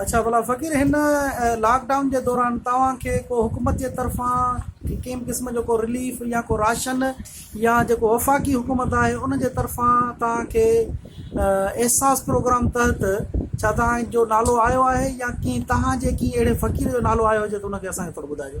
اڇا ڀلا فقير هن لاڪ ڊائون جي دوران توهان کي ڪو حڪومت جي طرفان ڪنهن قسم جو ڪو رليف يا ڪو راشن يا جيڪو وفاقي حڪومت آهي ان جي طرفان توهان کي احساس پروگرام تحت ڇا توهان جو نالو آيو آهي يا ڪنهن توهان جي ڪنهن اهڙي فقير جو نالو آيو هجي ته ان کي اسان کي ٿورو ٻڌائجو.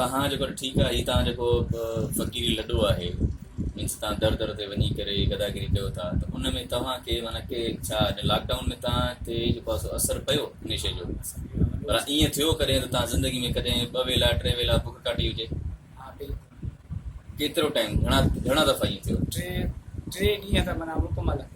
تهان جيڪو آهي ٺيڪ آهي هي تهان جيڪو فقيري لڏو آهي مينس تهان در در تي وڃي ڪري گداگري ڪيو ٿا ته ان ۾ توهان کي معنيٰ ڪي ڇا هن لاڪ ڊائون ۾ توهان تي جيڪو آهي سو اثر پيو ان شيء جو پر ائين ٿيو ڪڏهن ته توهان زندگي ۾ ڪڏهن ٻه ويلا ٽي ويلا بک ڪاٽي هجي ڪيترو ٽائيم گهڻا گهڻا دفعا ائين ٿيو ٽي ٽي ڏينهن ته معنيٰ مڪمل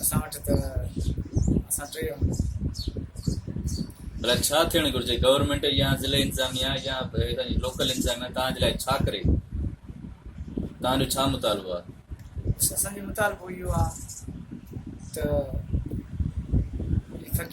اسان وٽ ته اسان ٽي آهيون. ڀلا ڇا ٿيڻ گهرجي گورنمينٽ يا ضلعي انتظاميا يا لوڪل انتظاميا توهان جي لاء ڇا ڪري توهان جو ڇا مطالبو آهي؟ اسان جو مطالبو اهو آهي ته